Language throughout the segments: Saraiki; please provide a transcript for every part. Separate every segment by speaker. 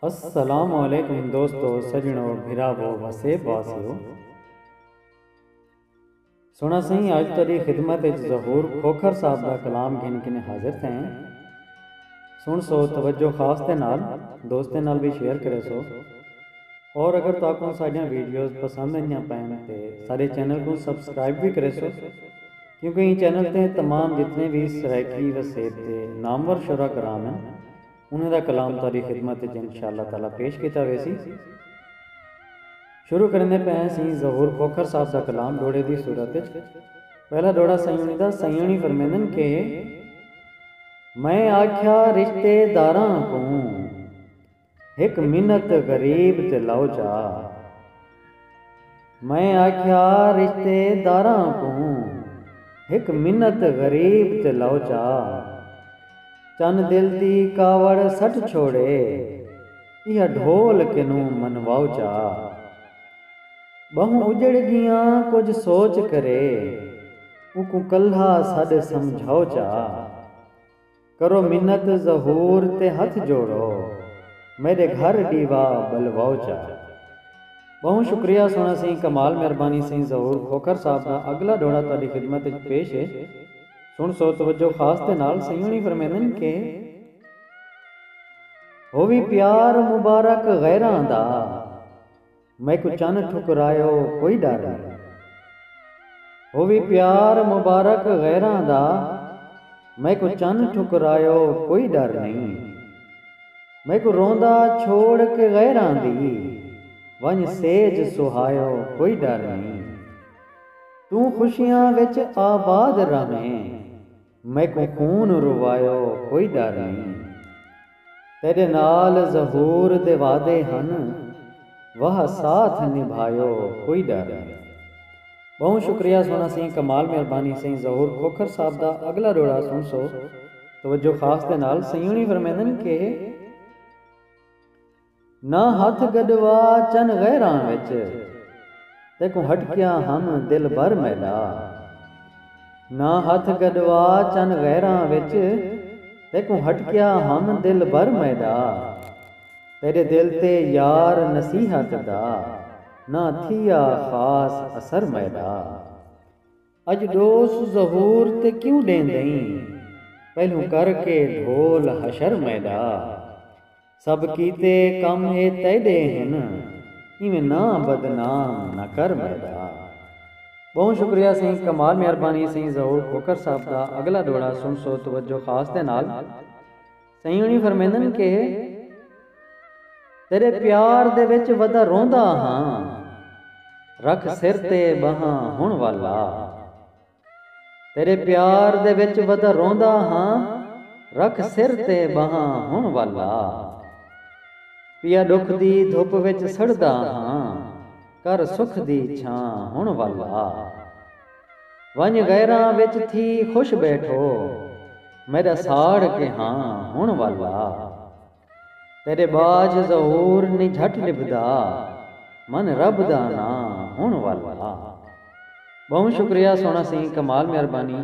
Speaker 1: السلام علیکم دوستو سجنو بھراوو وسے باسیو سونا سائیں اج تیری خدمت وچ ظہور کھوکھر صاحب دا کلام گھن کنے حاضر تھے ہیں سن سو توجہ خاص دے نال دوستیں نال بھی شیئر کرے سو اور اگر تو اپن ساڑیاں ویڈیوز پسند ہیں یا پہن تے سارے چینل کو سبسکرائب بھی کرے سو کیونکہ ایں چینل تے تمام جتنے وی سرائیکی وسیب دے نامور شعرا کرام ہن انہاں دا کلام تہاڈی خدمت اچ انشاء اللہ تعالی پیش کیتا ویسی۔ شروع کریندے پئے ہیں سئیں ظہور کھوکھر صاحب دا کلام ڈوہڑے دی صورت اچ۔ پہلا ڈوہڑا سئیں ہنی دا سئیں ہنی فرمیندن کہ۔ میں آکھیا رشتے داراں کوں۔ ہک منت غریب تے لو چا۔ میں آکھیا رشتے داراں کوں ہک منت غریب تے لو چا۔ چن دل دی کاوڑ سٹ چھوڑے ایہا ڈھول کنوں منواؤ چا۔ بہوں اجڑ گیاں کجھ سوچ کرے اونکوں کلہا سڈ سمجھاؤ چا۔ کرو منت ظہور تے ہتھ جوڑو میڈے گھر ڈیوا بلواؤ چا۔ بہوں شکریہ سونا سیں کمال مہربانی سیں ظہور کھوکھر صاحب دا اگلا ڈوہڑا تہاڈی خدمت اچ پیش ہے سن سو توجہ خاص دے نال سیوݨی فرمیندن کہ ہووی پیار مبارک غیراں دا میکوں چن ٹھکرائے او کوئی ڈر نئیں۔ او وی پیار مبارک غیراں دا۔ میکوں چن ٹھکرائے او کوئی ڈر نئیں۔ میکوں روندا چھوڑ کے غیراں دی۔ ونج سیج سہائے او کوئی ڈر نئیں۔ توں خوشیاں وچ آباد رہویں۔ میکوں خون روایو کوئی ڈر نئیں۔ تیڈے نال ظہور دے وعدے ہن۔ واہ ساتھ نبھایو کوئی ڈر نئیں۔ بہوں شکریہ سونا سئیں کمال مہربانی سئیں ظہور کھوکھر صاحب دا اگلا ڈوہڑا سن سو توجہ خاص دے نال سئیں ہونی فرمیندن کہ۔ نہ ہتھ گݙوا چن غیراں وچ تیکوں ہٹکیا ہم دلبر میݙا نہ ہتھ گݙوا چن غیراں وچ تیکوں ہٹکیا ہم دلبر میݙا تیݙے دل تے یار نصیحت دا نہ تھیا خاص اثر میݙا۔ اڄ ݙوس ظہور تے کیوں ݙیندئیں پہلوں کر کے ڈھول حشر میݙا سب کیتے کم اے تیݙے ہن ایویں ناں بدنام نہ کر میݙا ٻہوں شکریہ سئیں کمال مہربانی سئیں ظہور کھوکھر صاحب دا اڳلا ݙوہڑا سݨسو توجہ خاص دے نال۔ سئیں ہوݨی فرمیندن کہ تیݙے پیار دے وچ ودا روندا ہاں رکھ سر تے ٻہاں ہݨ ول لا تیݙے پیار دے وچ ودا روندا ہاں رکھ سر تے ٻہاں ہݨ ول لا پیا ݙکھ دی دھپ وچ سڑدا ہاں کر سکھ دی چھاں ہݨ ول لا۔ ونڄ غیراں وچ تھی خوش ٻیٹھو میݙا ساڑ کے ہاں ہݨ والا تیݙے ٻاجھ ظہور نی جھٹ نبھدا من رب دا ناں ہݨ والا ٻہوں شکریہ سوہݨا سئیں کمال مہربانی۔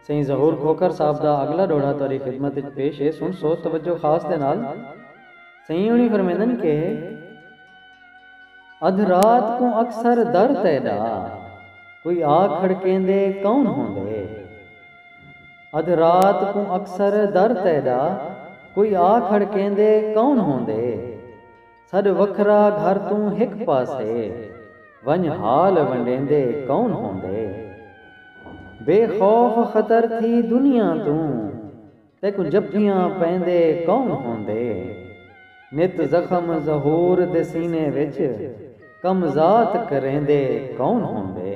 Speaker 1: سئیں ظہور کھوکھر صاحب دا اگلا ڈوہڑا تہاڈی خدمت اچ پیش ہے سن سو توجہ خاص دے نال۔ سئیں ہوݨی فرمیندن کہ۔ ادھ رات کوں اکثر در تیڈا کوئی آ کھڑکیندے کون ہوندے۔ ادھ رات کوں اکثر در تیڈا کوئی آ کھڑکیندے کون ہوندے۔ سݙ وکھرا گھر توں ہک پاسے ونڄ حال ونڈیندے کون ہوندے بے خوف خطر تھی دنیا توں تیکوں جپھیاں پیندے کون ہوندے نت زخم ظہور دے سینے وچ کم ذات کریندے کون ہوندے۔